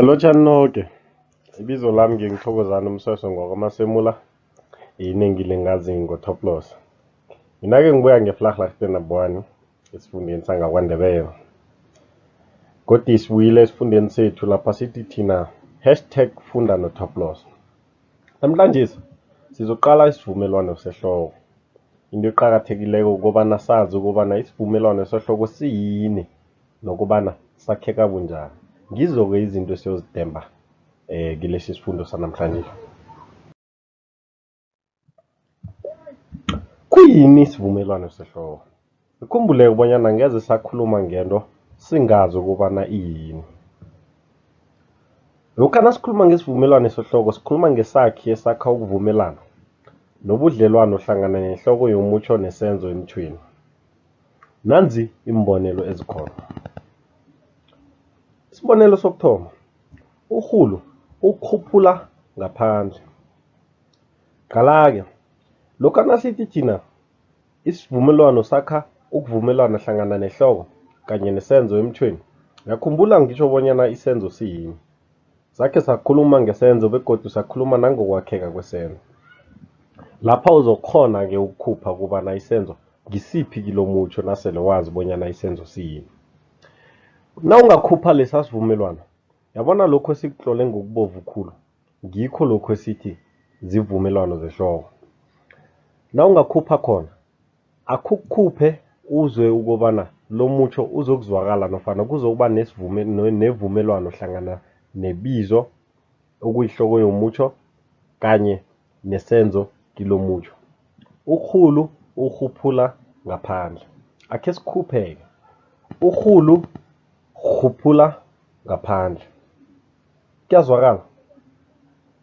Lotjhani noke, ibizo lami nginguThokozani Msweswe ngewakwaMasemula, inengi lingazi ngoThoplos. Mina-ke ngibuya ngeVlakglaagte number one esifundeni sangaKwaNdebele. Godu sibuyile esifundeni sethu lapha sithi thina hashtag funda noThoplos. Namhlanjesi sizokuqala isivumelwano sehloko. Into eqakathekileko kukobana sazi ukobana isivumelwano sehloko siyini nokubana sakheka bunjani ngizo-ke izinto esiyozidemba um kilesi sifundo sanamhlanje khuyini isivumelwano sehloko ikhumbuleke ubonyana ngeze sakhuluma ngento singazi ukubana iyini lokha nasikhuluma ngesivumelwano sehloko sikhuluma ngesakhi esakha ukuvumelana nobudlelwano hlangana nehloko yomutjho nesenzo emthweni Nanzi iimbonelo ezikhona. Isibonelo sokuthoma, urhulu ukhuphula ngaphandle. Qala-ke, lokha nasithi thina isivumelwano sakha ukuvumelana hlangana nehloko kanye nesenzo emthweni, ngiyakhumbula ngitjho bonyana isenzo siyini. Sakhe sakhuluma ngesenzo begodu sakhuluma nangokwakheka kwesenzo. Lapha uzokukghona-ke ukukhupha kobana isenzo ngisiphi kilomutjho nasele wazi bonyana isenzo siyini. Nawungakhupha lesa sivumelwano, yabona lokho esikutlole ngokubovu khulu, ngikho lokho esithi zivumelwano zehloko. Nawungakhupha khona, Akhukhuphe uzwe ukobana lomutjho uzokuzwakala nofana kuzokuba nesivume nevumelwano hlangana nebizo okuyihloko yomutjho kanye nesenzo kilomutjho. Urhulu urhuphula ngaphandle. Akhe sikhupheke. Urhulu rhuphula ngaphandle. Kuyazwakala?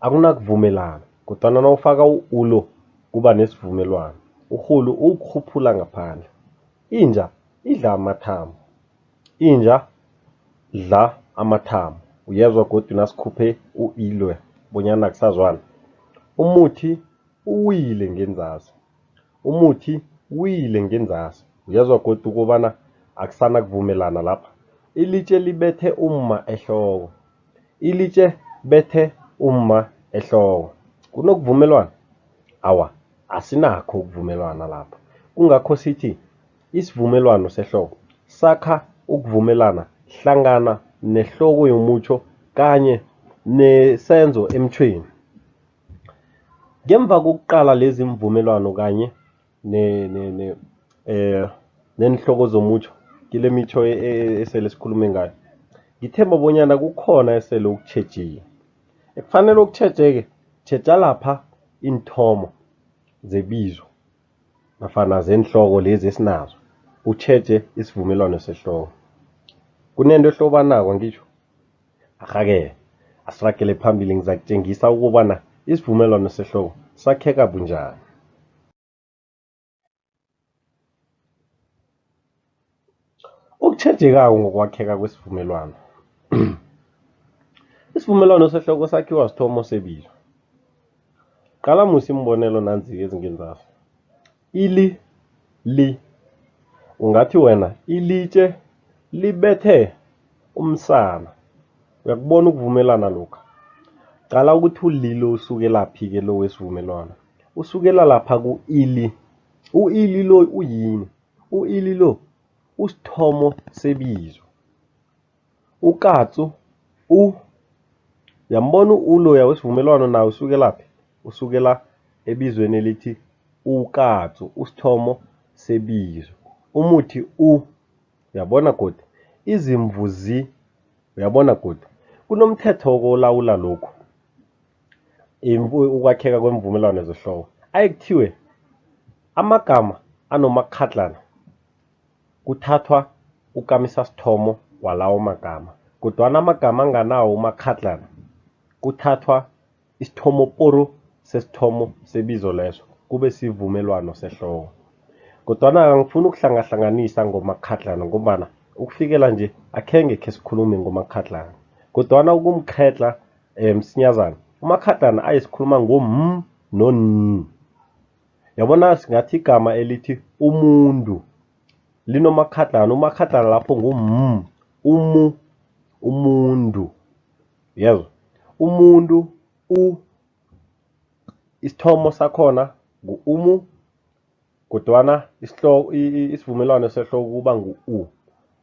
Akunakuvumelana, kodwana nawufaka u-u lo, kuba nesivumelwano. Urhulu uwukghuphula ngaphandle. Inja idla amathambo. Inja dla amathambo. Uyezwa godu nasikhuphe u-i loya bonyana akusazwani? Umuthi uwile ngenzasi. Umuthi wile ngenzasi. Uyezwa godu ukobana akusana kuvumelana lapha. Ilitje libethe umma ehloko. Ilitje bethe umma ehloko. Kunokuvumelwana? Awa, asinakho ukuvumelwana lapha. Kungakho sithi isivumelwano sehloko sakha ukuvumelana hlangana nehloko yomutjho kanye nesenzo emtjhweni. Ngemva kokuqala lezi imvumelwano kanye ne, ne, ne, eh, neenhloko zomutjho kile mitjho e, e, e, esele sikhulume ngayo ngithemba bonyana kukhona esele ukutjhejile ekufanele ukutjhejeke tjheja lapha iinthomo zebizo nafana zeenhloko lezi esinazo utjheje isivumelwano sehloko kunento ehlobanako ngitjho Arhake, asiragele phambili ngizakutjengisa ukobana isivumelwano sehloko sakheka bunjani. Okutjhejekako ngokwakheka kwesivumelwano. Isivumelwano sehloko sakhiwa sithomo sebilo. Qala musi iimbonelo nanzi ezingenzasi. Ili, li. Ungathi wena, ilitje libethe umsana. Uyakubona ukuvumelana lokha? Qala ukuthi ulilo usukelaphi-ke lo wesivumelwano. Usukela lapha ku-ili. U-ili lo uyini? U-ili lo usithomo sebizo. UKatsu, u, Yambona u-u loya wesivumelwano naye usukelaphi? Usukela ebizweni elithi ukatsu, usithomo sebizo. Umuthi u, Uyabona godu? Izimvu zi, Uyabona godu? Kunomthetho olawula lokhu, ukwakheka kwemvumelwano zehloko. Aye kuthiwe amagama anomakghadlana. Kuthathwa ukamisasithomo walawo magama, kodwana amagama anganawo umakghadlana kuthathwa isithomoporu sesithomo sebizo leso kube sivumelwano sehloko. Kodwana angifuni ukuhlangahlanganisa ngomakghadlana ngombana ukufikela nje akhenge khesikhulume ngomakghadlana. Kodwana ukumkghedla msinyazana, umakghadlana ayesikhuluma ngo-m no-n. Yabona singathi igama elithi umuntu linomakhadlana, umakhadlana lapho ngu m, umu, umuntu. Uyezwa? Umuntu, u, isithomo sakhona ngu umu kodwana isivumelwano sehloko kuba ngu-u.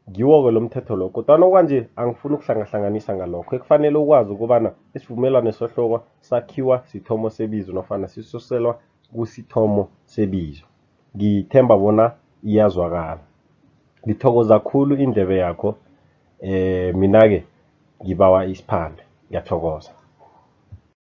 Ngiwo-ke lo mthetho lo, kodwana okwanje angifuni ukuhlangahlanganisa ngalokho. Ekufanele ukwazi ukobana isivumelwano sohloko sakhiwa sithomo sebizo nofana sisuselwa kusithomo sebizo. Ngithemba bona iyazwakala. Ngithokoza khulu indlebe yakho, eh mina-ke ngibawa isiphande. Ngiyathokoza.